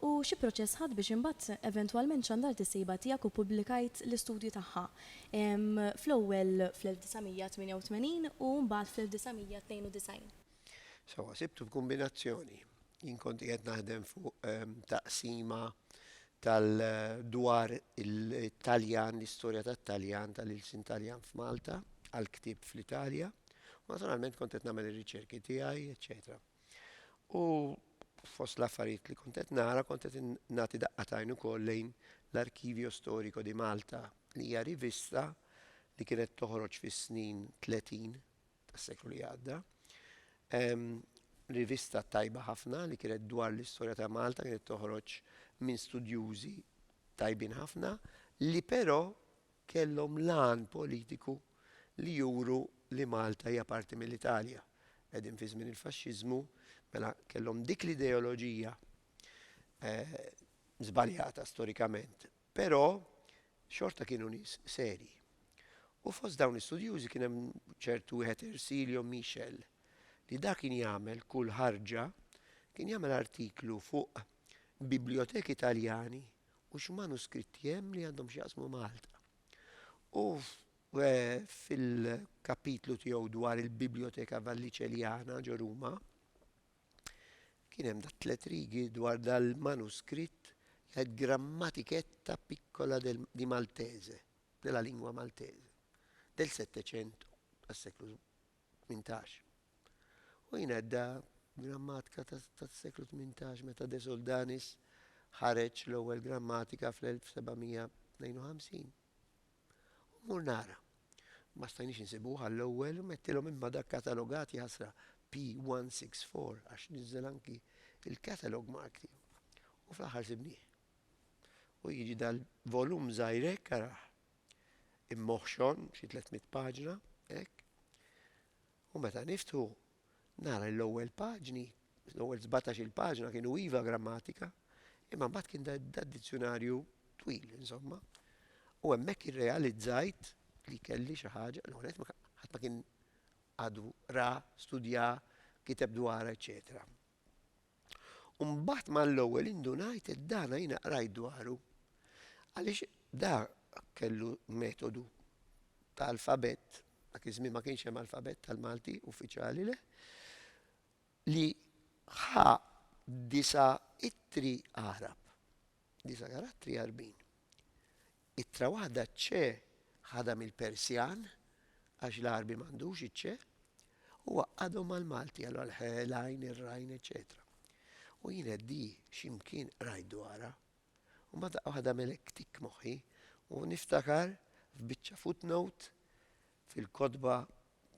U xi proċess ħadt biex imbagħad eventwalment xandart is-sejba tiegħek u pubblikajt l-istudju tagħha, fl-ewwel fl-1988 u mbagħad fl-1992? Sewwa, sibtu f'kumbinazzjoni. Jien kont qiegħed naħdem fuq taqsima tal dwar it-Taljan, l-istorja tat-Taljan, tal-ilsien Taljan f'Malta, għall-ktieb fl-Italja, u naturalment kont qed nagħmel ir-riċerki tiegħi, eċċetera. U fost l-affarijiet li kont qed nara kont qed nagħti daqqatajn ukoll lejn l-Archivio Storico di Malta li hija rivista li kienet toħroġ fis-snin 30 tas-seklu li għadda. Rivista tajba ħafna li kienet dwar l-istorja ta' Malta kienet toħroġ minn studjużi tajbin ħafna li però kellhom l-għan politiku li juru li Malta hija parti mill-Italja. Qegħdin fi żmien il-Faxxiżmu, mela kellhom dik l-ideoloġija żbaljata storikament, però xorta kienu nies serji. U fost dawn l-istudjużi kien hemm ċertu wieħed Ersilio Michel li dak kien jagħmel kull ħarġa kien jagħmel artiklu fuq biblioteki Taljani u x'manuskritti hemm li għandhom x'jaqsmu ma' Malta. U fil-kapitlu tiegħu dwar il-Biblioteka Valliċeljana ġo Ruma, kien hemm dat tliet rigi dwar dal-manuskritt li għed Grammatiketta Piccola di Maltese, della lingua maltese, del Settecento, tas-seklu tmintax. U jnedda grammatka tas-seklu tmintax meta De Soldanis ħareġ l-ewwel grammatika fl-1752. U mmur nara. Ma stajniex insibuh għall-ewwel u mettilhom imma dak katalogat jaħasra P164 għax niżżel anki il-catalog mark tiegħu. U fl-aħħar sibnieh. U jiġi dal-volum żgħir hekk arah. Immoħxon, xi 300 paġna, hekk. U meta niftu nara l-ewwel paġni, l-ewwel 17 il-paġna kienu iva grammatika, imma mbagħad kien dad-dizzjonarju twil, insomma. U hemmhekk irrealizzajt li kelli xi ħaġa, l ħadd ma kien għadu ra, studja, kiteb dwar, eċċetera. U mbagħad mal-ewwel indunajt li dana jiena qrajt dwaru. Għaliex da kellu metodu ta' alfabett, dak iż-żmien ma kienx hemm alfabett tal-Malti uffiċjali le, li ħa disa' ittri Għarab. Disa' karattri għarbin. Ittra waħda ċ-ċe ħadha mill-Persjan, għax l-Għarbi m'għandux iċ-ċe, u għaqqadhom mal-Malti, allura l-ħe, l-għajn, ir-rajn, eċċetera. U jien qed di x'imkien qrajt dwarha, u mbagħad daqqa waħda għamel hekk tikk moħħi, u niftakar f'biċċa footnote Fil-kotba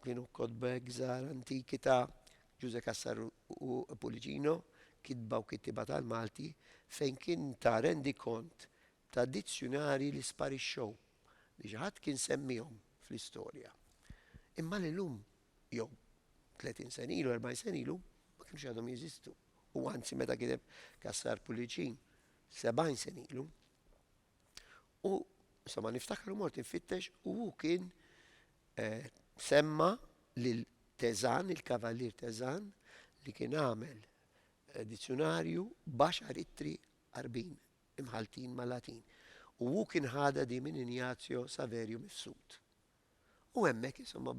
kienu kotbek żgħar antiki ta' Ġużè Cassar u Pulicino, Kitba u Kittieba tal-Malti, fejn kien ta rendikont ta' dizzjunarji li sparixxew, li xi ħadd kien semmiehom fl-istorja, imma li llum, jew tletin sena ilu, erbgħin sena ilu, ma kinux għadhom jeżistu, u anzi meta kiteb Cassar Pulicin sebgħin sena ilu. U sa ma niftakar u mort infittex u hu kien eh, semma lil Tezan, il-Kavallier Tezan, li kien għamel eh, dizzjonarju baxar ittri arbin imħaltin ma' Latin. U hu kien ħada di minn Ignazio Saverio Mifsud. U hemmhekk insomma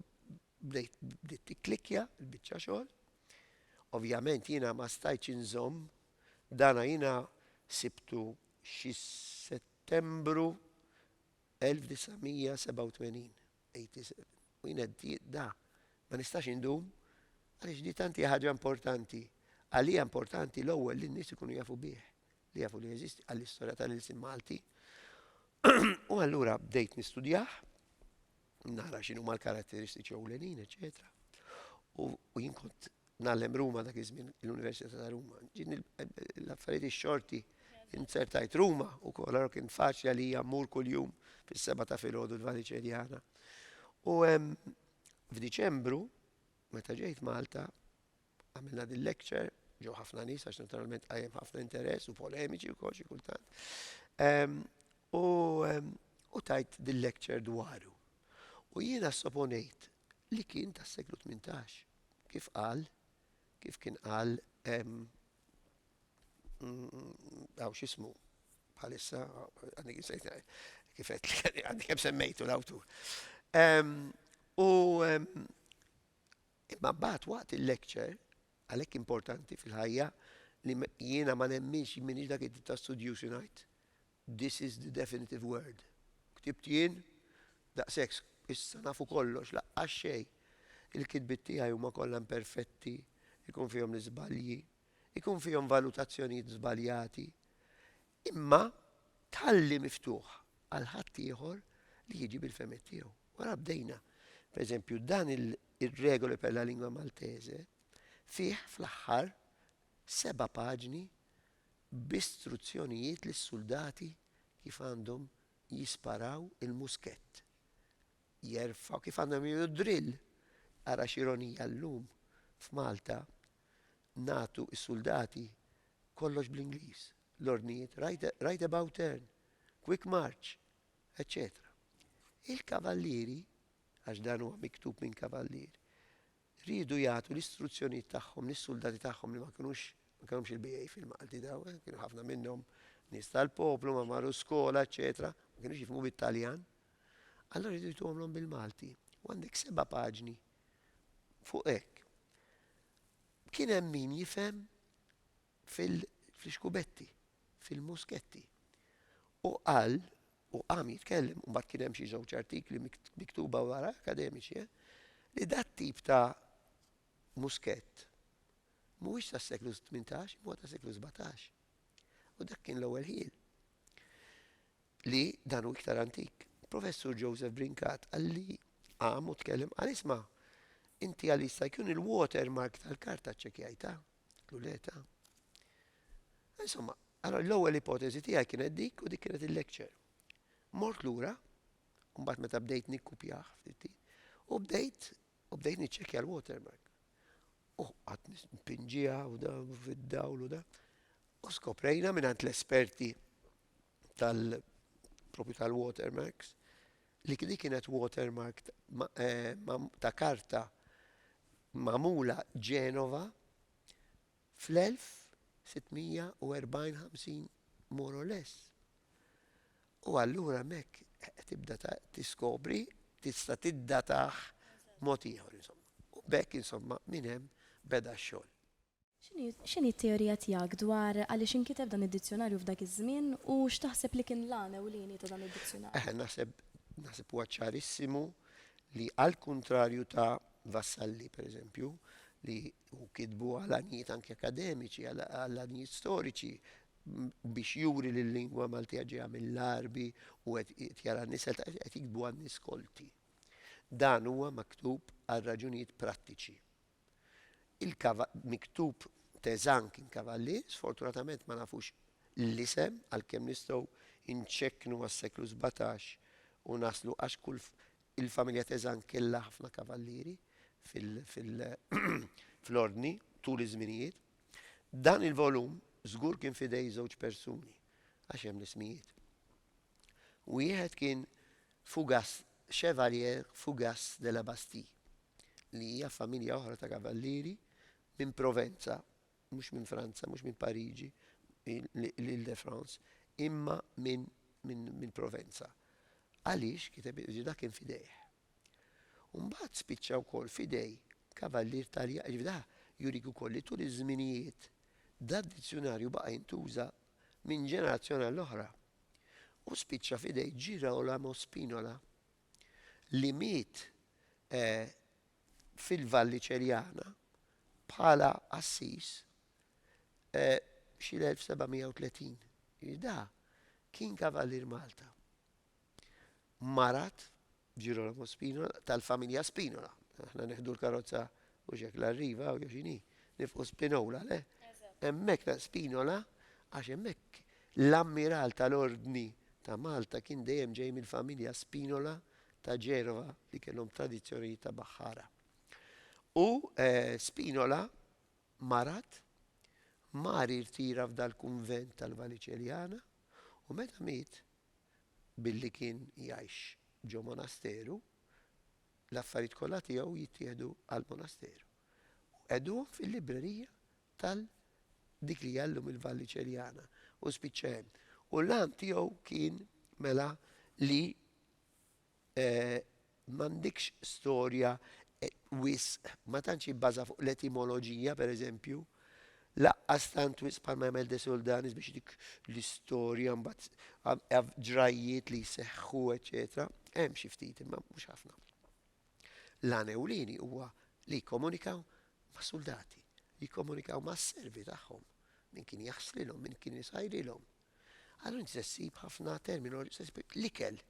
bdejt bdiet tikklikkja l-biċċa xogħol. Ovvjament jiena ma stajtx inżomm dana jiena sibtu xi Settembru 1987, 87. U jiena da ma nistax indum għaliex di tanti ħaġa importanti. Għalija importanti l-ewwel li n-nies ikunu jafu bih. li jafu li jeżisti għall-istorja ta' l-ilsien Malti u allura bdejt nistudjah, nara x'inhu ma l-karatteristiċi ewlenin, eċetera. U jien kont nagħlem Ruma dak iż-żmien l-Università ta' Ruma. Ġin l-affarijiet ix-xorti inzertajt Ruma u kol għarok kien faċli għalija mmur kuljum fis-seba ta' filgħodu l-Vaniċerjana. U f'Diċembru meta ġejt Malta Għamilna din lecture, ġew ħafna nies għax naturalment qajjem ħafna interess u polemiċi wkoll xi kultant. Ehm, u ehm, u tajt din lecture dwaru. U jiena soponejt li kien tas-seklu 18. Kif qal, kif kien qal ehm, għaw xismu bħalissa, għandik nsejt kifet li għandik kem semmejtu l-awtur. U Imma mbagħad waqt il-lecture, għalhekk importanti fil-ħajja li jiena ma nemminx, jien m'iniex dak it-tip ta' studjuż li ngħid this is the definitive word. Ktibt jien, daqshekk, issa nafu kollox, laqqas xejn. Il-kitbiet tiegħi huma kollha imperfetti, ikun fihom l-iżbalji, ikun fihom valutazzjonijiet żbaljati. Imma tħalli miftuħ għal ħaddieħor li jiġi bil-fehmiet tiegħu. Wara bdejna. Pereżempju, dan ir-Regole per la Lingua Maltese fih fl-aħħar seba' paġni b'istruzzjonijiet lis-suldati kif għandhom jisparaw il-muskett. Jerfgħu kif għandhom jagħmlu drill. Ara x'ironija llum f'Malta nagħtu s-suldati kollox bl-Ingliż, l-ordnijiet right about turn, quick march, eċċetera. Il-kavallieri, għax dan huwa miktub minn kavallier, riedu jagħtu l-istruzzjonijiet tagħhom lis-suldati tagħhom li ma kinux ma kellhomx il-BA fil-Malti daw, eh, kienu ħafna minnhom nies tal-poplu, ma marru skola, eċċetera, ma kinux jifhmu bit-Taljan. Allora riedu jtuhomlhom bil-Malti. U għandek seba' paġni Fuq hekk, kien hemm min jifhem fil-xkubetti, fil-musketti. U qal, u qam jitkellem, u mbagħad kien hemm xi żewġ artikli miktuba wara, akademiċi, eh, li dat tip ta' muskett mhuwiex tas-seklu 18, imma tas-seklu 17. U dak kien l-ewwel ħiel. li dan hu iktar antik. Professur Joseph Brincat qal li qam u tkellem qal isma' inti għal jista' jkun il-watermark tal-karta ċċekkjajtha? Qlu le ta. Insomma, allora l-ewwel ipoteżi tiegħi kienet dik u dik kienet il-lecture. Mort lura, u mbagħad meta bdejt nikkupjah ftit u bdejt u bdejt niċċekkja l-watermark. U qatt nispinġiha u da fid-dawl u da. U skoprejna mingħand l-esperti tal propju tal-watermarks li kien kienet watermark eh, ta' karta mamula Ġenova fl-1640 more or less. U allura mek tibda tiskobri tista' tiddataħ mod ieħor insomma. U bekk insomma minn hemm beda x-xogħol. X'inhi t-teorija tiegħek dwar għaliex inkiteb dan id-dizzjunarju f'dak iż-żmien u x'taħseb li kien l-għan ewlieni ta' dan id-dizzjunarju? Eħe, naħseb, naħseb huwa ċarissimu li għall-kuntrarju ta' Vassalli, pereżempju, li hu kitbu għal għanijiet anki akademiċi, għal għanijiet storiċi, biex juri li l-lingwa Maltija ġejja mill-Għarbi u qed jara nisel qed jiktbu għan-nies kolti. Dan huwa maktub għal raġunijiet prattiċi. Il-kava miktub Tezang kien Kavalli, sfortunatament ma nafux l-isem għalkemm nistgħu nċekknu għas-seklu sbatax u naslu għax kull il-familja Tezang kellha ħafna kavallieri fil-ordni tul iż-żminijiet. Dan il-volum żgur kien f'idej żewġ persuni għax hemm l-ismijiet. Wieħed kien Fougas, Chevalier Fougas de la Bastille, li hija familja oħra ta' kavallieri minn Provenza, mhux minn Franza, mhux minn Pariġi, l-Île-de-France, imma minn Provenza. Għaliex kiteb ġda kien f'idejh. U mbagħad spiċċa wkoll f'idej kavallier Taljan, ġifieri da jurik ukoll li tul iż-żminijiet da d-dizzjunarju baqa' jintuża minn ġenerazzjoni għall-oħra. u spiċċa f'idej Girolamo Spinola li miet fil-Valli Ċerjana bħala qassis xi l-1730. Jiġifieri da kien Kavallier Malta. Marat, Girolamo Spinola, tal-familja Spinola. Aħna neħdu l-karozza u xek l-arriva u joxini, nifqu Spinola, le? Emmek ta' Spinola, għax emmek l-ammiral tal-ordni ta' Malta kien dejjem ġej mill-familja Spinola ta' Ġerova li kellhom tradizzjoni ta' baħħara. U eh, Spinola marat mari rtira f'dal-kunvent tal-Valiċeljana u meta miet billi kien jgħix ġo monasteru, l-affarijiet kollha tiegħu jittieħdu għall-monasteru u qegħduhom fil-librerija tal dik li hija llum il-Valli Ċeljana u spiċċa hemm. U l-għan tiegħu kien mela li M'għandikx storja wisq, ma tantx hi bbaża fuq l-etimoloġija, per eżempju, laqqas tant wisq bħal ma jagħmel Desoldanis biex dik l-istorja mbagħad ġrajjiet li jseħħu, eċċetera. Hemm xi ftit imma mhux ħafna. L-għan ewlieni huwa li jikkomunikaw mas-suldati, jikkomunikaw mas-servi tagħhom, min kien jaħslilhom, min kien isajrilhom. Allura inti se ssib ħafna terminoloġija, se ssib l-ikel,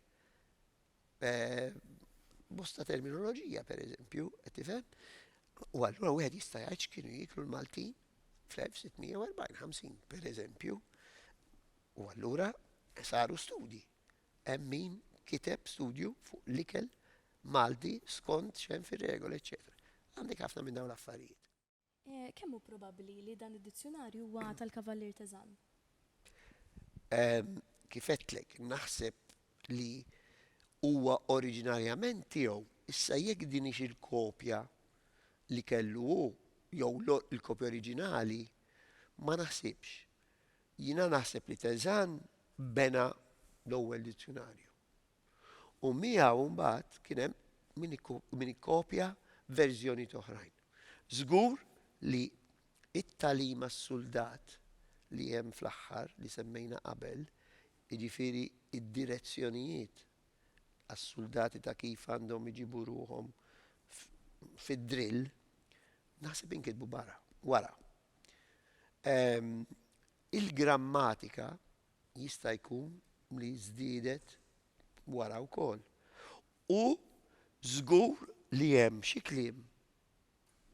bosta terminoloġija pereżempju, qed tifhem? U allura wieħed jista' jgħid x'kienu jieklu l-Maltin fl-1640-50 pereżempju. U allura saru studji. Hemm min kiteb studju fuq l-ikel Malti skont xem fir-regoli, eċetera. Għandek ħafna minn dawn l-affarijiet. Kemm hu probabbli li dan id-dizzjunarju huwa tal-Kavallier Teżan? Kif għedtlek, naħseb li huwa oriġinarjament tiegħu. Issa jekk din hix il-kopja li kellu hu jew l-kopja oriġinali, ma naħsibx. Jiena naħseb li Teżan bena l-ewwel dizzjunarju. u miegħu mbagħad kien hemm min ikkopja verżjonijiet oħrajn. Żgur li t-tagħlim għas-suldat li hemm fl-aħħar li semmejna qabel, jiġifieri d-direzzjonijiet għas-suldati ta' kif għandhom iġibu ruħhom fid-drill, naħseb inkitbu barra, wara. Il-grammatika jista' jkun li żdiedet wara wkoll. U żgur li hemm xi kliem,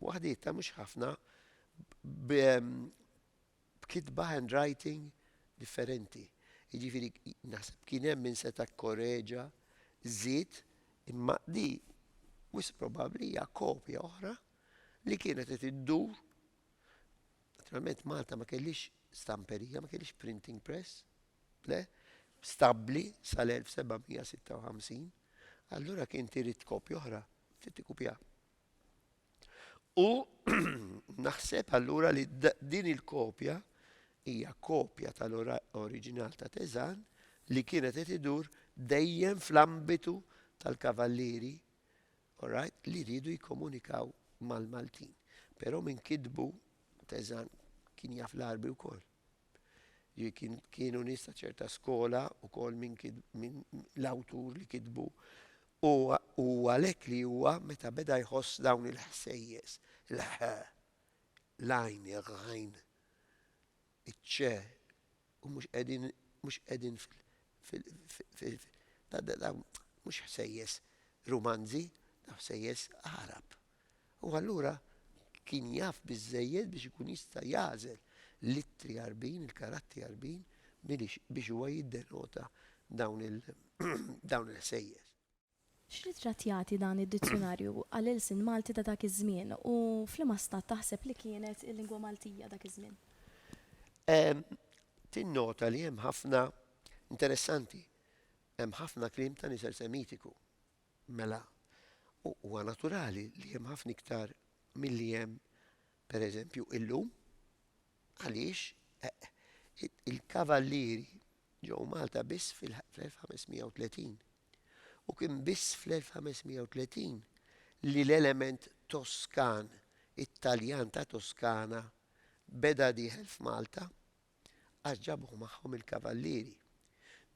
waħdietha mhux ħafna, b' b'kitba, handwriting, differenti. Jiġifieri naħseb kien hemm min seta' kkoreġa, żied, imma di wisq probabbli hija kopja oħra li kienet qed iddur Naturalment Malta ma kellhiex stamperija, ma kellhiex printing press, le, stabbli sal-1756, allura kien tirid kopja oħra, trid tikupja. U naħseb allura li din il-kopja hija kopja tal-oriġinal ta' Teżan li kienet qed idur dejjem fl-ambitu tal-kavallieri Alright, li riedu jikkomunikaw mal-Maltin. Però min kitbu Teżan kien jaf l-Għarbi wkoll. Ġifieri kien kienu nies ta' ċerta skola wkoll min min l-awtur li kitbu u u għalhekk li huwa meta beda jħoss dawn il-ħsejjes, il-ħ, l-għajn, il-ghajn, iċ-ċ, u mhux qegħdin mhux qegħdin fil fil fil dawn mhux ħsejjes rumanzi, dawn ħsejjes Għarab. U allura kien jaf biżżejjed biex ikun jista' jagħżel l-ittri Għarbin, il-karatti Għarbin biex huwa jiddenota dawn il-ħsejjes. X'ritratt jagħti dan id-dizzjunarju għall-ilsien Malti ta' dak iż-żmien u f'liema stat taħseb li kienet il-lingwa Maltija dak iż-żmien? Tinnota li hemm ħafna, interessanti, hemm ħafna kliem ta' nisel Semitiku. Mela, huwa naturali li hemm ħafna iktar milli hemm, per eżempju, illum. Għaliex? Il-kavallieri ġew Malta biss fil-1530. u kien biss fl-1530 li l-element Toskan, it-Taljan ta' Toskana, beda dieħel f'Malta għax ġabuh magħhom il-Kavallieri.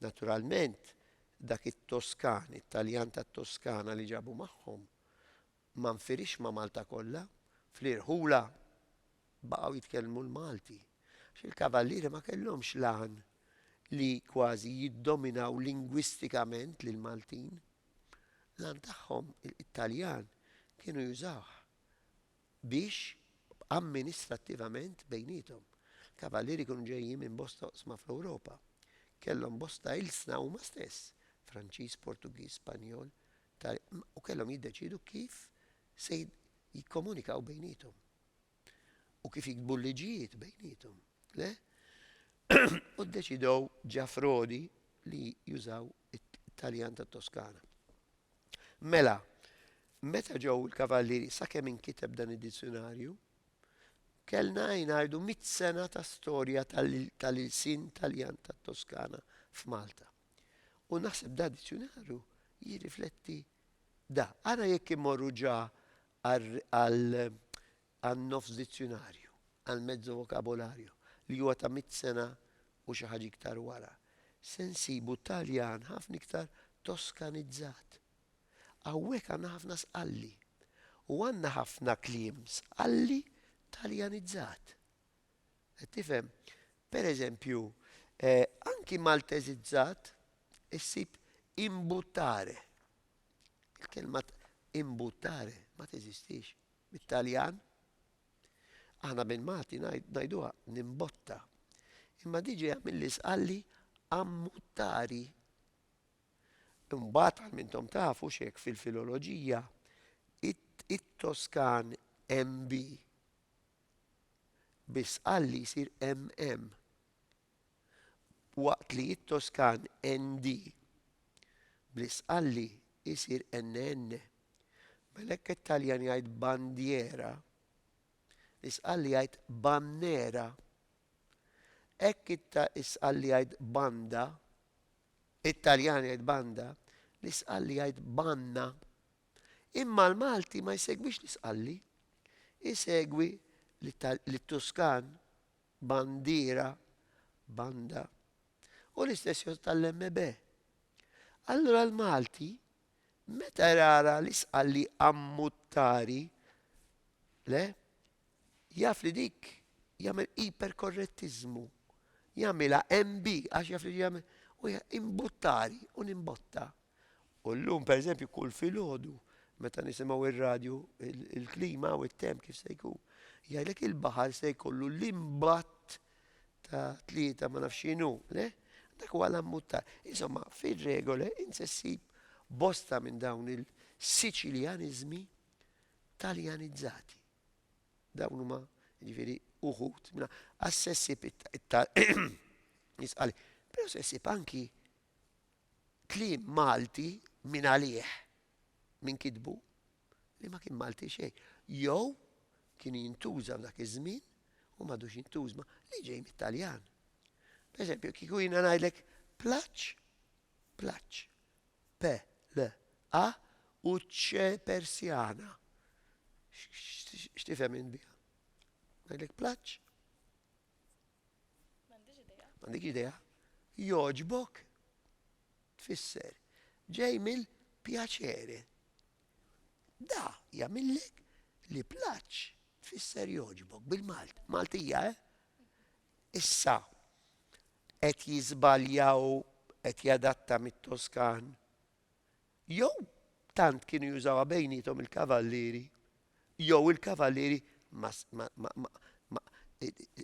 Naturalment, dak it-Toskan, it-Taljan tat-Toskana li ġabu magħhom, ma nfirixx ma' Malta kollha, fl-irħula. baqgħu jitkellmu l-Malti għax il-Kavallieri ma kellhomx l-għan li kważi jiddominaw lingwistikament lill-Maltin. L-għan tagħhom, it-Taljan, kienu jużawh biex amministrattivament bejniethom. Il-Kavallieri kienu ġejjin minn bosta oqsma fl-Ewropa. Kellhom bosta ilsna huma stess, Franċiż, Portugiż, Spanjol, Tal-, u kellhom jiddeċiedu kif se jikkomunikaw bejniethom. u kif jiktbu l-liġijiet bejniethom. Le? U ddeċidew ġafrodi li jużaw it-Taljan ta' Toskana. Mela, meta ġew il-kavallieri sakemm inkiteb dan id-dizzjonarju, kellna jnajdu mit sena ta' storja tal-ilsin Taljan ta' Toskana f'Malta. U naħseb da' dizzjonarju jirrifletti da. Ara jekk imorru ġa għan-nofs dizzjunarju, għal mezzo vocabolario, li huwa ta' mitt sena u xi ħaġa iktar wara, se nsibu Taljan ħafna iktar Toskanizzat. Hawnhekk għandna ħafna sqalli. U għandna ħafna kliem sqalli Taljanizzat. Qed tifhem? Per eżempju, anki Malteżizzat issib imbuttare. Il-kelma imbuttare ma teżistix bit-Taljan. Aħna bil-Malti ngħiduha nimbotta. Imma di ġejja milli sqalli ammuttari. Imbagħad għal mintom tafu x'hekk fil-filoloġija it-Toskan MB. Bi sqalli jsir MM. waqt li it-Toskan ND bl-isqalli jsir NN. Mela hekk it-Taljan jgħid bandiera, l-isqalli jgħid bannera. Hekk it-isqalli jgħid banda, it-Taljan jgħid banda, l-isqalli jgħid banna. Imma l-Malti ma jsegwix l-isqalli, isegwi l-Tuskan bandiera, banda, u l-istess jgħodd għall-MB. Allura l-Malti meta jrara li sqalli ammuttari, le, jaf li dik jagħmel iperkorrettiżmu, jagħmilha MB għax jaf li jagħmel u imbuttari u nimbotta. U llum pereżempju kull filgħodu meta nisimgħu ir-radju il-klima u t-temp kif se jkun, jgħidlek il-baħar se jkollu l-imbatt ta' tlieta ma nafx x'inhu, le? Dak huwa l-ammuttar. Insomma, fir-regole int se ssib bosta minn dawn il-Siċiljaniżmi taljanizzati. Dawn huma ġifieri uħud minna għas-sessib it-tal. Jisqali. Però sessib anki Kliem Malti min għalih, min kitbu, li ma kien Malti xejn. Jew kien jintuża f'dak iż-żmien u m'għadux jintużma li ġej mit-Taljan. Pereżempju, kieku jiena ngħidlek plaċ, plaċ, p l a u ċ persjana. X'tifhem int biha? Ngħidlek plaċ? M'għandix idea. M'għandix idea. Jogħġbok tfisser ġej mill piacere. Da jagħmillek li plaċ tfisser jogħġbok bil-Malt. Maltija, eh? Issa qed jiżbaljaw qed jadatta mit-Toskan Jew tant kienu jużawha bejniethom il-kavallieri, jew il-kavallieri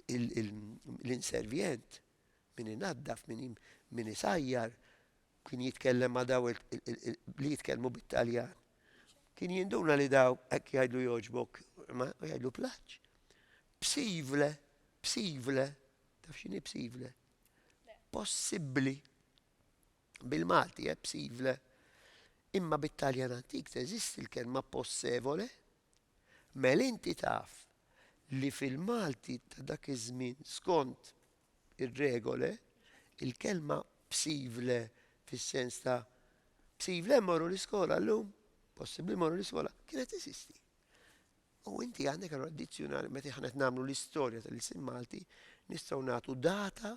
l-inservjent min inaddaf, min isajjar, kien jitkellem ma' daw li jitkellmu bit-Taljan. Kien jinduna li daw hekk jgħidlu jogħġbok, ma jgħidlu plaċ. Psivle, psivle, taf x'inhi psivle? Possibbli. Bil-Malti è psivle, imma bit-Taljan antik teżisti l-kelma possevole? Mel inti taf li fil-Malti ta' dak iż-żmien skont ir-regole, il-kelma psivle fis-sens ta' psivle mmorru l-iskola llum? Possibbli mmorru l-iskola? Kienet teżisti. U inti għandek allura dizzjunarju meta aħna qed nagħmlu l-istorja tal-ilsien Malti nistgħu nagħtu data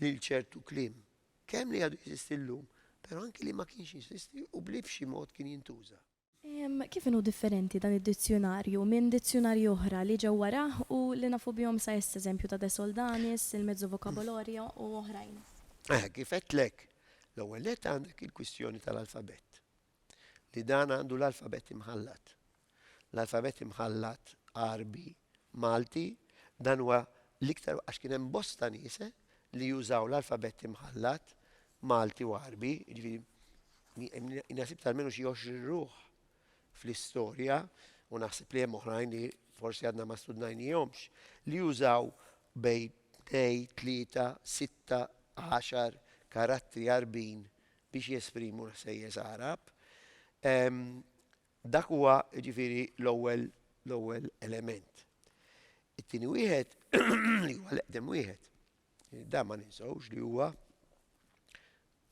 lil ċertu kliem Kemm li għadu jeżisti llum, però anki li ma kienx jeżisti u b'li b'xi mod kien jintuża. Kif inhu differenti dan id-dizzjunarju minn dizzjunarji oħra li ġew warah u li nafu bihom sa issa, eżempju ta' De Soldanis, il-Mezzo Vocabolorio u oħrajn? Kif għedtlek, l-ewwel nett għandek il-kwistjoni tal-alfabett. li dan għandu l-alfabett imħallat. L-alfabett imħallat Għarbi, Malti, dan huwa l-iktar għax kien hemm bosta nies eh, li jużaw l-alfabett imħallat Malti u Għarbi, jiġifieri Nasib tal-menu xi 20 ruħ fl-istorja u naħseb li hemm oħrajn li forsi għadna ma studnajnihomx li jużaw bej 2, 3, 6, 10 karattri għarbin biex jesprimu l-ħsejjes Għarab. Dak huwa ġifieri l-ewwel l-ewwel element. It-tieni wieħed li huwa l-eqdem wieħed. Da ma ninsawx li huwa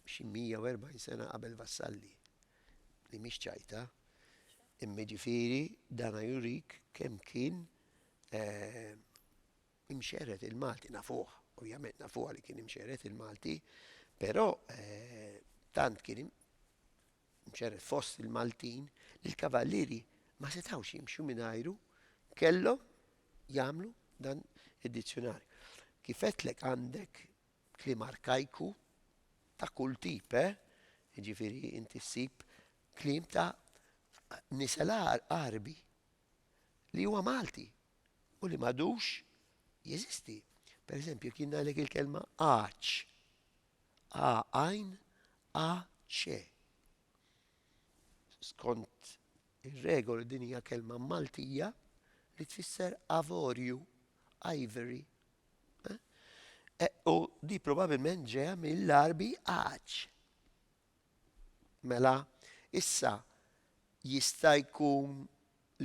xi 140 sena qabel Vassalli li mhix ċajta imma ġifieri dana jurik kemm kien eh, Imxerred il-Malti nafuh, ovvjament nafuha li kien imxerred il-Malti, però tant kien imxerred fost il-Maltin li l-kavallieri ma setgħux jimxu mingħajru kellhom jagħmlu dan id-dizzjunarju. Kif għedtlek għandek kliem arkajku ta' kull tip, eh? Jiġifieri inti ssib kliem ta' nisel għarbi. li huwa Malti u li m'għadux jeżisti. Per eżempju, jekk jien ngħidlek il-kelma għaċ, a għajn, a ċe. Skont ir-regoli din hija kelma Maltija li tfisser avorju, ivory. Eh? Eh, u di probabilment ġeja mill-arbi għaċ. Mela, issa, jista' jkun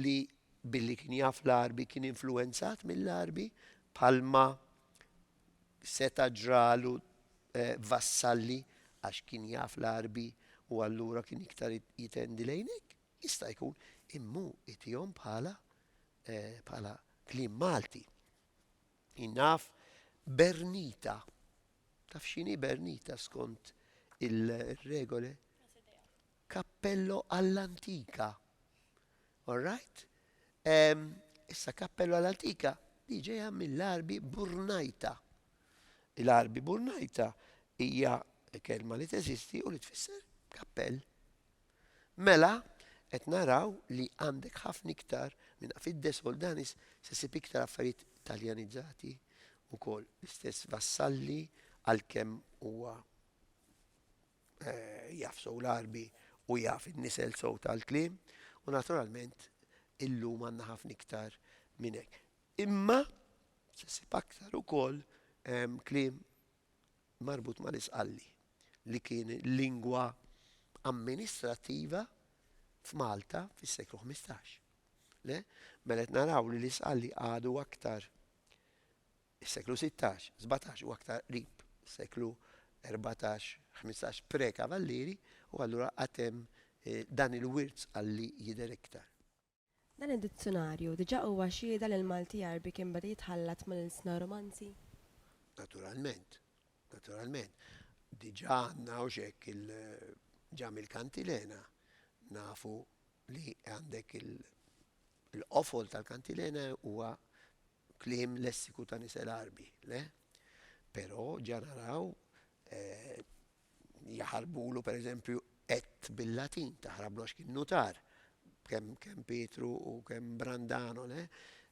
li billi kien jaf l-Għarbi kien influwenzat mill-Għarbi, bħalma seta' ġralu Vassalli għax kien jaf l-Għarbi u allura kien iktar jitendi lejn hekk? Jista' jkun, imma hu itihom bħala kliem Malti. Jien naf Bernita. Taf x'inhi Bernita skont il-regoli? Kappello għall-antika. All right? Issa kappello għall-antika li ġejja mill-arbi burnajta. Il-arbi burnajta hija kelma li teżisti u li tfisser kappell. Mela, qed naraw li għandek ħafna iktar minn Afiddes Oldanis se ssib iktar affarijiet Taljanizzati wkoll. L-istess Vassalli għalkemm huwa eh, jaf sow l-Arbi u jaf in-nisel sow tal-kliem u naturalment illum għandna ħafna iktar minn hekk. Imma se ssib aktar ukoll ehm, kliem marbut mal-Isqalli, li kien lingwa amministrattiva f'Malta fis-seklu ħmistax. Le? Mela qed naraw li l-Isqalli għadu aktar is-seklu sittax, sbatax u aktar qrib is-seklu erbatax, ħmistax pre-Kavallieri u allura għad hemm dan il-wirt Sqalli jidher iktar. Dan id-dizzjunarju diġà huwa xhieda li l-Malti Għarbi kien beda jitħallat mal-ilsna Romanzi? Naturalment. Naturalment. Diġà għandna hawn x'hekk il, ġa mill-Kantilena nafu li għandek il, il-qofol tal-Kantilena huwa kliem lessiku ta' nies Għarbi, le? Però ġa naraw, jaħarbulu, per eżempju, et bil-Latin taħrablu għax kien nutar, kemm kemm Pietru u kemm Brandano, le?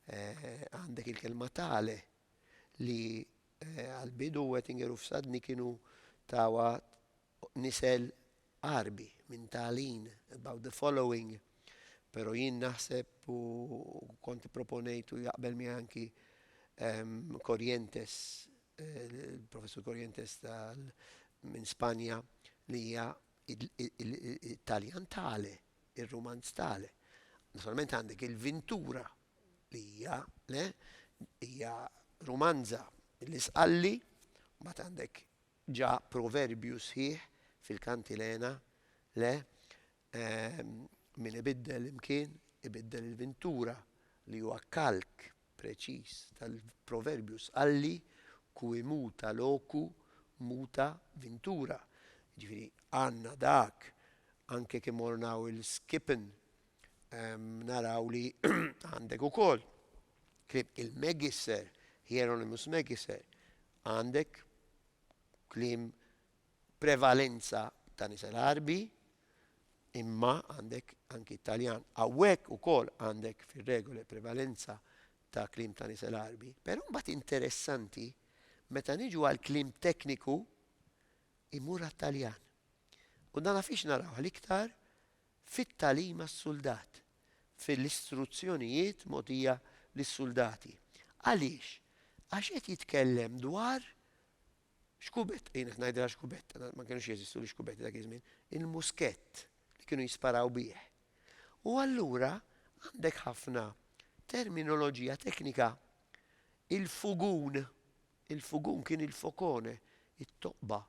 Għandek il-kelma tale li għal-bidu Wettinger u Fsadni kienu tawa nisel Għarbi minn talin, about the following, pero jien naħseb u kont proponejt u jaqbel miegħi anki Corrientes Il-Professur Corrientes tal minn Spanja li hija it-Taljan tale, ir-Rumanz tale. Naturalment għandek il-Vintura li hija le hija Rumanza l-Isqalli, mbagħad għandek ġa proverbju sħiħ fil-Kantilena le Min ibiddel imkien, ibiddel il-vintura, li huwa kalk preċiż tal-proverbju Sqalli, Cui muta locu, muta vintura. Jiġifieri għandna dak, anke jekk immorru naraw il-skippin, naraw li għandek ukoll kliem il-Megisser, Hieronymus Megisser, għandek kliem prevalenza ta' nisa l-Għarbi, imma għandek anki t-Taljan. Hawnhekk ukoll għandek fir-regole prevalenza ta' kliem ta' nisa l-Għarbi. Però mbagħad interessanti meta niġu għal kliem tekniku imur għat-Taljan. U dan fiex narawh l-iktar fit-tagħlim għas-suldat, fil-istruzzjonijiet mogħtija lis-suldati. Għaliex? Għax qed jitkellem dwar Xkubett, jien qed ngħidilha xkubett, ma kinux jeżistu l-ixkubetti dak iż-żmien, il-muskett li kienu jisparaw bih. U allura għandek ħafna terminoloġija teknika. Il-fugun, il-fugun kien il-focone, it-toqba,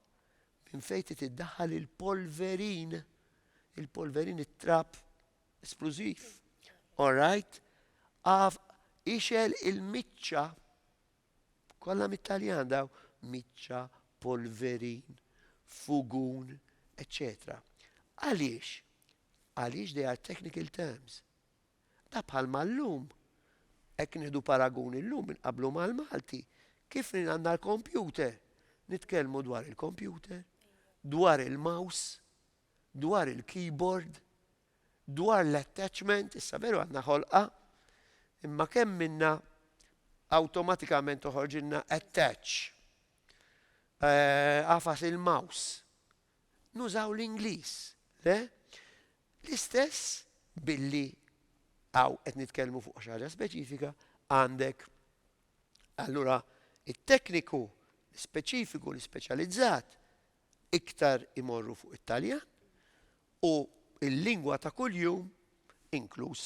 minn fejn trid iddaħħal il-polverin, il-polverin it-trab esplużiv. All right? Għaf ixgħel il-miċċa. Kollha mit-Taljan daw, miċċa, polverin, fugun, eċċetera Għaliex? Għaliex they are technical terms. Da bħalma llum, hekk nieħdu paragun illum inqabblu mal-Malti, kif għandna l-kompjuter, nitkellmu dwar il-kompjuter, dwar il-mouse, dwar il-keyboard, Dwar l-attachment, issa veru għandna ħolqa, imma kemm minnha awtomatikament toħorġilna attach. Għafas eh, il-mouse. Nużaw l-Ingliż, le? L-istess billi għaw qed nitkellmu fuq xi ħaġa speċifika għandek allura it-tekniku speċifiku l-speċjalizzat iktar imorru fuq it-Taljan u l-lingwa ta' kuljum inkluż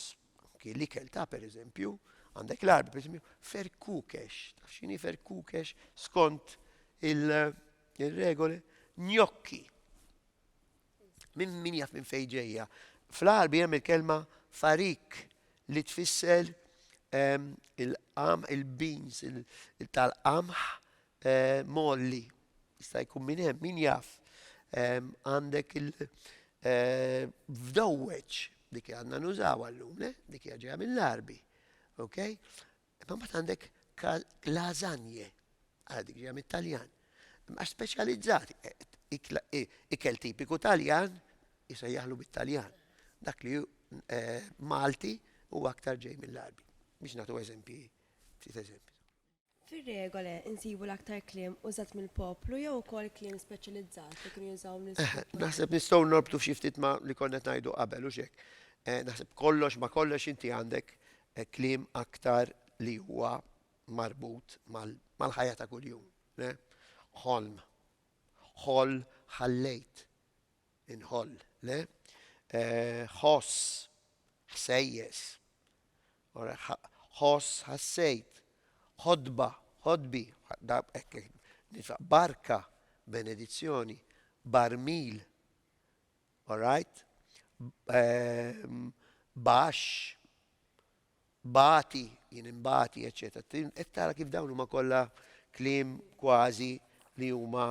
anki l-ikel ta' pereżempju, għandek l-Għarbi pereżempju, ferkukex, taf x'inhi ferkukex skont il-regoli, njokki. Min, min jaf minn fejn ġejja. Fl-Għarbi hemm il-kelma farik li tfisser ehm, il-qam, il-beans, il-tal-qamħ, Molly, Jista' jkun minn hemm, min jaf. Għandek il fdowweġ, dik li għandna nużawha llum, le? Dik hija ġejja mill-Għarbi. Okay? Imma mbagħad għandek lasagne, għal dik ġejja mit-Taljan. Għax speċjalizzati, ikel tipiku Taljan isejjaħlu bit-Taljan. Dak li Malti huwa aktar ġej mill-Għarbi. Biex nagħtu eżempji, ftit eżempji. Fir-regole nsibu l-aktar kliem użat mill-poplu jew ukoll kliem speċjalizzat li kienu jużawhom l-Isqof Pontifiċi? Eħe, naħseb nistgħu norbtu xi ftit ma' li konna qed ngħidu qabel, hux hekk? Naħseb kollox ma' kollox inti għandek kliem aktar li huwa marbut mal-ħajja ta' kuljum. Le? Ħolm. Ħoll, ħallejt. Inħoll. Le? Ħoss. Ħsejjes. ħoss, ħassejt, ħodba, ħodbi, barka, benedizzjoni, barmil, alright, baxx, bagħti, jien inbagħti, eċċetera. Qed tara kif dawn huma kollha kliem kważi li huma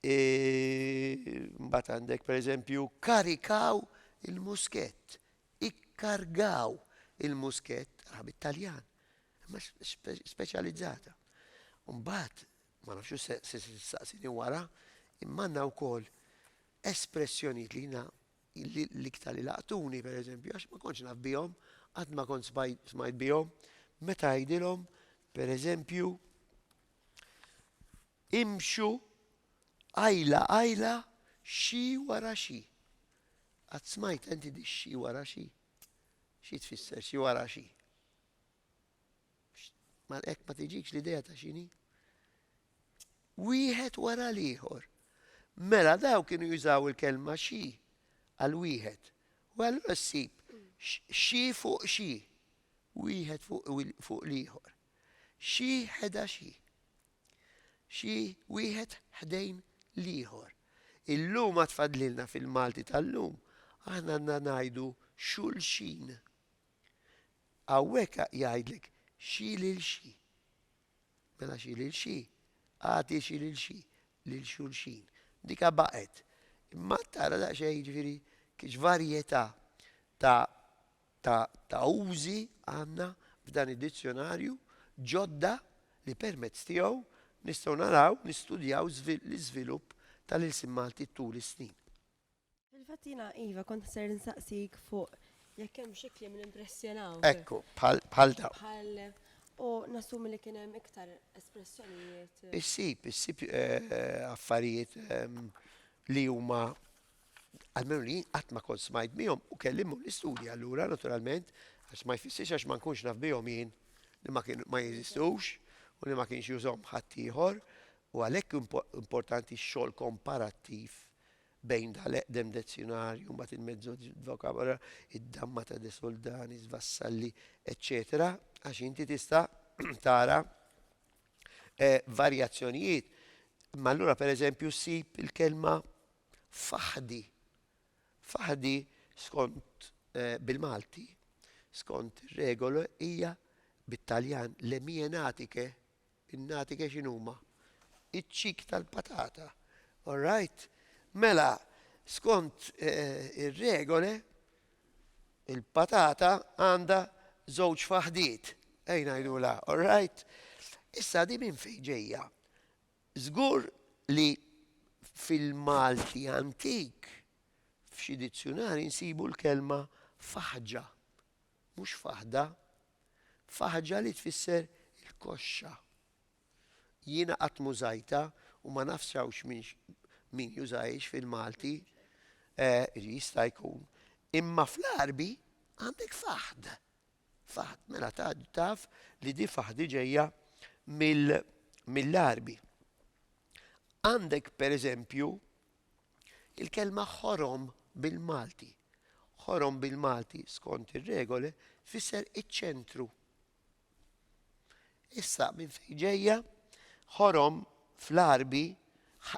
E, mbagħad għandek pereżempju karikaw il-muskett, ikkargaw il-muskett, raħab Italjan, imma speċjalizzata. Mbagħad, ma nafx se saqsini wara, imma għandna wkoll espressjonijiet li jina l-iktar li laqtuni, per eżempju, għax ma konċ naf bihom, għad ma konċ smajt bihom, meta għidilom, per eżempju, Imxu qajla qajla xi wara xi. Qatt smajtha inti di xi wara xi? Xi tfisser xi wara xi? Mal hekk ma tiġikx l-idea ta' x'inhi? Wieħed wara l-ieħor. Mela daw kienu jużaw il-kelma xi għal wieħed. U allura ssib xi fuq xi. Wieħed fuq l-ieħor. Xi ħeda xi. Xi wieħed ħdejn l-ieħor. Illum għad fadlilna fil-Malti tal-lum aħna għandna ngħidu xulxin. Hawnhekk jgħidlek xi lil xi. Mela xi lil xi, agħti xi lil xi, lil xulxin. Dika baqgħet. Imma tara daqsxejn jiġifieri kif varjetà ta' ta' ta' użi għandna f'dan id-dizzjonarju ġodda li permezz tiegħu nistgħu naraw, nistudjaw l-iżvilupp tal-ilsien Malti tul is-snin. Fil-fatt jiena, iva, kont ser insaqsik fuq jekk hemm xi kliem li impressjonawk. Ekku, bħal dawn. Bħal u nassumi li kien hemm iktar espressjonijiet. Issib, issib eh, affarijiet ehm, li huma Almenu li jien qatt ma kont smajt bihom u kelli mmur nistudja allura naturalment għax ma jfissirx għax ma nkunx naf bihom jien li ma kien ma jeżistux u li ma kienx jużhom ħadd ieħor u għalhekk importanti x-xogħol komparattiv bejn dal-eqdem dezzjonarju mbagħad il-mezzo vocabolo, id-damma ta' de Soldani, Vassalli, eċċetera, għax inti tista' tara eh, varjazzjonijiet. Ma allura pereżempju ssib il-kelma Faħdi. Faħdi skont bil-Malti, skont ir-regoli hija bit-Taljan le mie natiche, in-natiche x'inhuma? Iċ-ċik tal-patata. All right? Mela, skont ir-regoli, il-patata għandha żewġ faħdiet, ejn ngħidulha, all right? Issa din minn fejn ġejja? Żgur li fil-Malti antik f'xi dizzjunarji nsibu l-kelma faħġa, mhux faħda. Faħġa li tfisser il-koxxa. Jiena qatt m'użajtha u ma nafx hawnx min jużahiex fil-Malti, jista' jkun. Imma fl-Għarbi għandek faħd, Faħd, mela taf li di faħdi ġejja mill-Għarbi. Għandek pereżempju il-kelma ħorom bil-Malti. Ħorom bil-Malti skont ir-regoli fisser iċ-ċentru. Issa minn fejn ġejja ħorom fl-Għarbi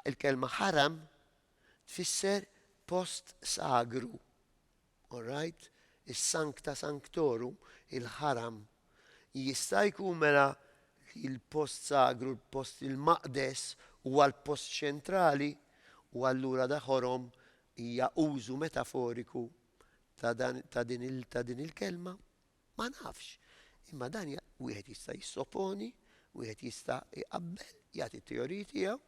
il-kelma ħaram tfisser post sagru. All right, is-Sancta Sanctorum, il-ħaram, jista' jkun mela li l-post sagru, l-post il-maqdes, huwa l-post ċentrali, u allura da ħorom hija użu metaforiku ta' dan ta' din il ta' din il-kelma? Ma nafx. Imma dan wieħed jista' jissoponi, wieħed jista' jqabbel, jagħti t-teoriji tiegħu,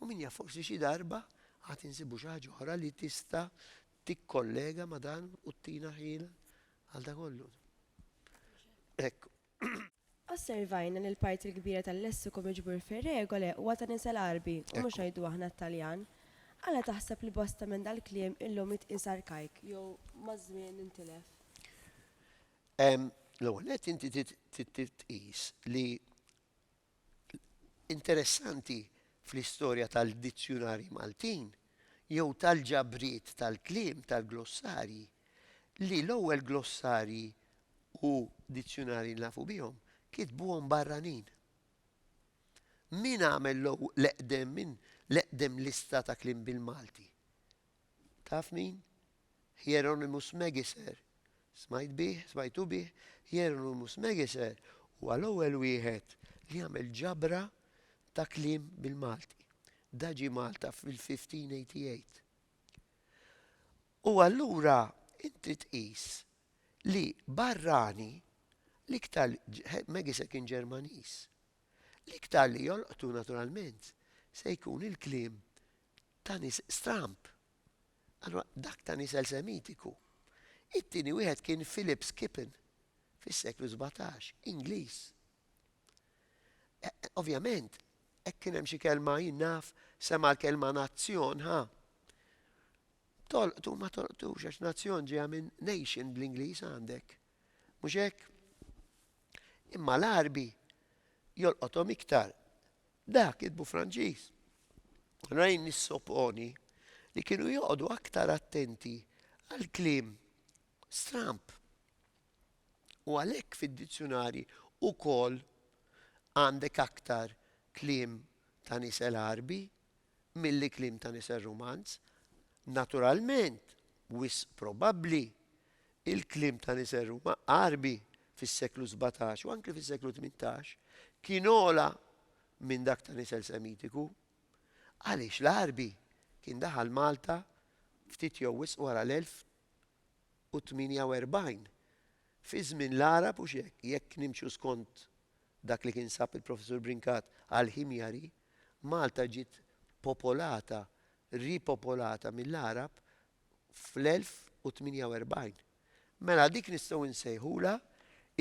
u min jaf forsi xi darba għad insibu xi ħaġa oħra li tista' tikkollega ma' dan u ttina ħjiel għal dan kollu. Hekk. Osservajna li l-parti l-kbira tal-lessiku miġbur fir-Regole huwa ta' nisel Għarbi u mhux ngħidu aħna t-Taljan. Għala taħseb li bosta minn dal-kliem illum jitqies arkajk jew maż-żmien intilef? L-ewwel nett inti trid tqis li interessanti fl-istorja tal-dizzjunarji Maltin jew tal-ġabriet tal-kliem tal-glossarji li l-ewwel glossarji u dizzjunarji li nafu bihom kitbuhom barranin. Min għamel l-eqdem lista ta' kliem bil-Malti? Taf min? Hieronymus Megiser. Smajt bih, smajtu bih? Hieronymus Megiser huwa l-ewwel wieħed li għamel ġabra ta' kliem bil-Malti. Da ġie Malta fil-1588. U allura inti tqis li barrani l-iktar Megiser kien Ġermaniż. L-iktar li jolqtu naturalment se jkun il-kliem ta' nies stramb. Allura dak ta' nies elsemitiku. It-tieni wieħed kien Philip Skippon fis-seklu 17, Ingliż. E, e, ovvjament, hekk kien hemm xi kelma jien naf sema' l-kelma nazzjon, ha? Tolqtu ma tolqtux għax nazzjon ġeja minn nation bl-Ingliż għandek. Mhux hekk? Imma l-Arbi jolqothom iktar Dak kitbu Franċiż. Ryan jissoponi li kienu joqogħdu aktar attenti għall-kliem stramb u għalhekk fid-dizzjunarji ukoll għandek aktar kliem ta' nies l-Għarbi mill-ikliem ta' nisel rumanz, naturalment, wisq probabbli, il-kliem ta' nisel Ruma Għarbi fis-seklu sbatax u anki fis-seklu tmintax kien ogħla minn dak ta' nisel Semitiku, għaliex l-Għarbi kien daħal Malta ftit jew wisq wara l-1048, fi żmien l-Għarab u x'hekk, jekk nimxu skont dak li kien sab il-Professur Brincat għall-Himjari. Malta ġiet popolata, ripopolata mill-Għarab fl-1048. Mela dik nistgħu nsejħulha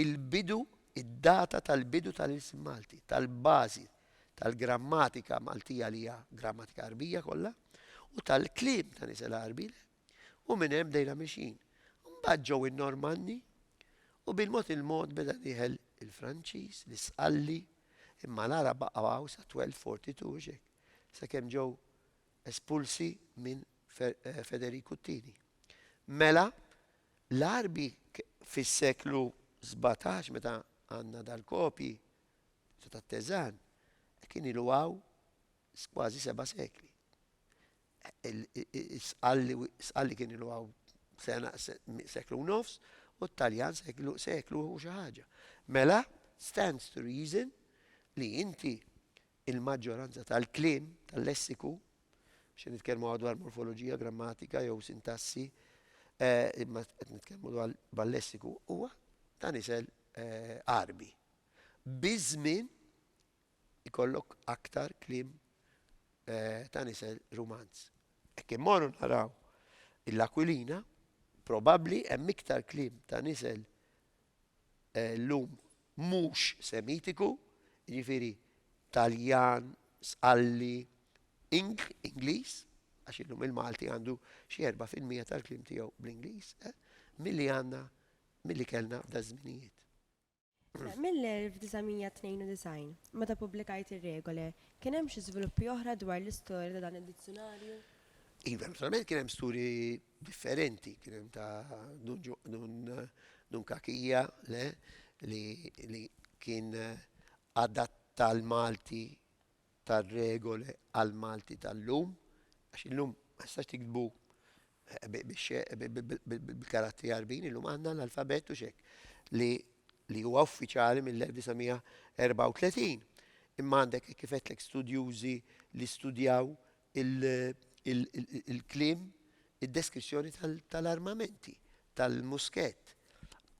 l-bidu, id-data tal-bidu tal-ilsien Malti, tal-bażi tal-grammatika Maltija li hija grammatika Għarbija kollha u tal-kliem ta' nies il-Għarbi U minn hemm bdejna mixjin. Mbagħad ġew in-Normanni u bil-mod il-mod beda dieħel il-Franċiż, l-Isqalli, imma l-Għarab baqgħu hawn sa 1242 u x'hekk, sakemm ġew espulsi minn Federiku t-Tieni. Mela, l-Għarbi fis-seklu sbatax meta għandna dal-kopji ta' tat-Teżan, kien ilu hawn kważi seba' sekli. Sqalli kien ilu għaw sena seklu nofs u t-Taljan seklu seklu u xi ħaġa. Mela, stands to reason li inti il-maġġoranza tal-kliem, tal-lessiku, xi nitkellmu dwar morfoloġija, grammatika jew sintassi, eh, imma qed nitkellmu dwar bal-lessiku huwa ta' nisel eh, Arbi. Biż-żmien ikollok aktar kliem ta' nisel Rumanz. Jekk immorru naraw il-Aquilina, probabbli hemm iktar kliem ta' nisel llum mhux Semitiku, jiġifieri Taljan, Sqalli, Ing, Ingliż, għax illum il-Malti għandu xi erba' fil-mija tal-kliem tiegħu bl-Ingliż, milli għandna, milli kellna f'daż-żminijiet. Sa mill-1992, meta ppubblikajt ir-regole, kien hemm xi żviluppi oħra dwar l-istorja ta' dan id-dizzjunarju? Iva, naturalment kien hemm sturi differenti, kien hemm ta' Dun Kakija li kien adatta l-Malti tar-regoli għall-Malti tal-lum, għax illum ma tistax tiktbu bil-karattri Għarbin, illum għandna l-alfabett u x'hekk, li li huwa uffiċjali mill-1934. Imma għandek hekk kif għedtlek studjużi li studjaw il-kliem, id-deskrizzjoni tal-armamenti, tal-muskett.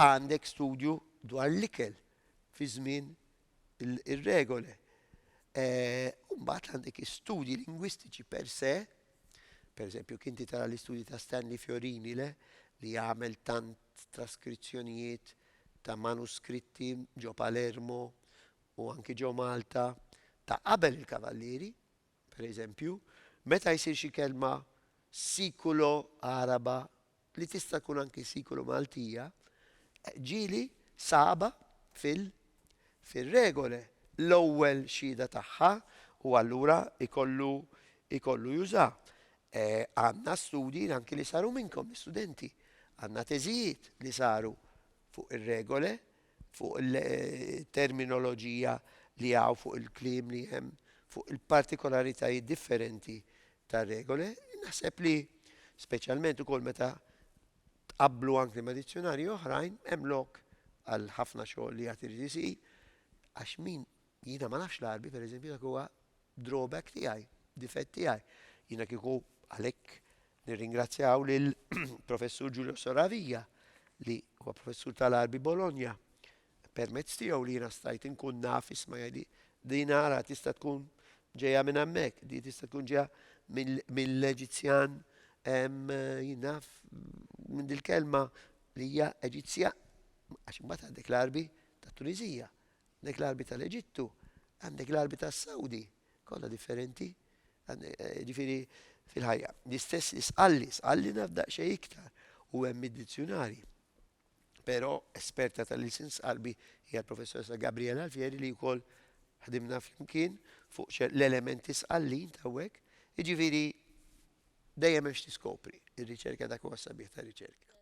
Għandek studju dwar l-ikel fi żmien ir-regole. Mbagħad għandek istudji lingwistiċi per se, per eżempju, kinti tara l-istudji ta' Stanley Fiorini le, li għamel tant traskrizzjonijiet ta' manuskritti ġo Palermo u anki ġo Malta ta' qabel il-Kavallieri, Per eżempju, meta jsir xi kelma sikulo Għaraba li tista' tkun anki sikulo Maltija, ġieli saba fil fir-regole l-ewwel xhieda tagħha u allura jkollu jkollu juża. Għandna studji anki li saru minnkom, l-istudenti. Għandna teżijiet li saru fuq ir-regole. fuq il-terminoloġija li hawn, fuq il-kliem li hemm, fuq il-partikolaritajiet differenti tar-regoli, naħseb li speċjalment ukoll meta tqabblu anki ma' dizzjunarji oħrajn, hemm lok għal ħafna xogħol li għad irid isir, għax min Jiena ma nafx l-Għarbi, per eżempju, dak huwa drawback tiegħi, difett tiegħi. Jiena kieku għalhekk nirringrazzjaw lil Professur Giulio Soravia li huwa Professur tal-Għarbi Bologna permezz tiegħu li jiena stajt inkun naf isma' jgħidli din ara tista' tkun ġejja minn hemmhekk, di tista' tkun ġejja mill-Eġizzjan jinaf minn dil-kelma li hija Eġizzja għax imbagħad għandek l-Għarbi tat-Tunisija Għandek l-arbi tal-Eġittu, għandek l-arbi tas-Sawdi, kollha differenti. Eh, ġifieri fil-ħajja. L-istess li sqalli, sqalli naf daqsxejn iktar u hemm id-dizzjunari. Però esperta tal-ilsin sqalbi hija l-professoressa Gabriela Alfieri li wkoll ħdimna flimkien fuq l-elementi sqallin ta' hekk. Jiġifieri dejjem hemm x'tiskopri. Ir-riċerka dak huwa sabiħ ta' riċerka.